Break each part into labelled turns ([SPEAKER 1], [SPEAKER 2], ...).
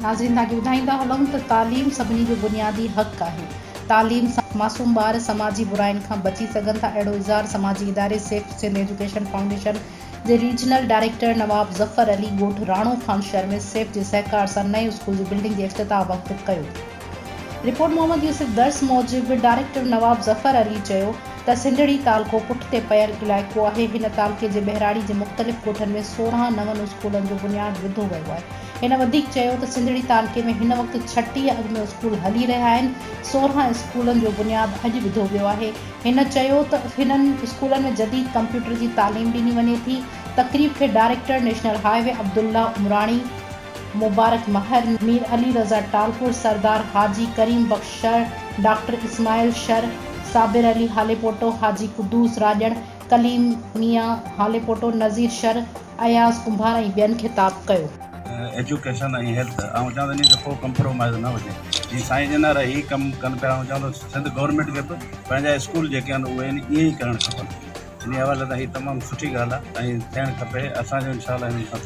[SPEAKER 1] ناظرين توهان کي ٻڌائيندا هلون ته تعليم سڀني جو بنيادي حق آهي تعليم سان معصوم ٻار سماجي براين کان بچي سگهن ٿا اهڙو اظهار سماجي اداري سيف سنڌ ايجوڪيشن فائونڊيشن جي ريجنل ڊائريڪٽر نواب ظفر علي ڳوٺ راڻو خان شهر ۾ سيف جي سهڪار سان نئين اسڪول جي بلڊنگ جي افتتاح وقت ڪيو. رپورٽ محمد يوسف درس موجب ڊائريڪٽر نواب ظفر علي چيو ته سنڌڙي تعلقو پٺتي پيل علائقو آهي هن تعلقي جي ٻهراڙي جي مختلف ڳوٺن ۾ سورهن نون اسڪولن جو بنياد وڌو ويو آهي هن وڌيڪ چيو ته سنڌڙي تعلقي ۾ هن وقت ڇٽيهه اڳ ۾ اسڪول هلي رهيا آهن سورهن اسڪولن جو بنياد اڄ وڌو ويو آهي هن چيو ته هنن اسڪولن ۾ جديد ڪمپيوٽر جي تعليم ڏني وڃي ٿي، تقريب کي director national highway Abdullah Umrani, Mubarak Mahar, Mir Ali Raza Talpur, Sardar Haji Karim Bakhsh Shar, doctor Ismail Shar, Sabir Ali Halepoto, Haji Qudoos Rajan, Kaleem ميان هاليپوٽو، نذير شر، اياز ڪنڀار ۽ ٻين خطاب ڪيو. ايجوڪيشن
[SPEAKER 2] ۽ هيلٿ آئون چاهندو آهيان ته ڪو ڪمپرومائيز نه هجي جي سائين جنار هي ڪم ڪن پيا آئون چاهندو سنڌ گورنمينٽ کي به پنهنجا اسڪول جيڪي آهن اهي ائين ئي ڪرڻ کپن انهي حوالي سان هي تمام سٺي ڳالهه آهي ائين ٿيڻ کپي اسان جو انشاء الله هنن سان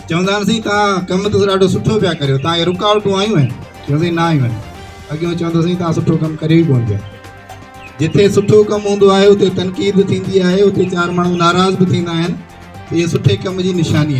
[SPEAKER 2] چوندا آهن
[SPEAKER 3] سائين توهان ڪم ته ڏاڍو سٺو پيا ڪريو توهان کي رڪاوٽون آيون آهن چيو سائين نه آيون آهن اڳيون چوندو سائين توهان سٺو ڪم ڪريو ئي ڪون پيا جتي سٺو ڪم هوندو آهي اتي تنقيد به ٿيندي آهي اتي چار ماڻهو ناراض به ٿيندا آهن اهي سٺي ڪم جي نشاني آهي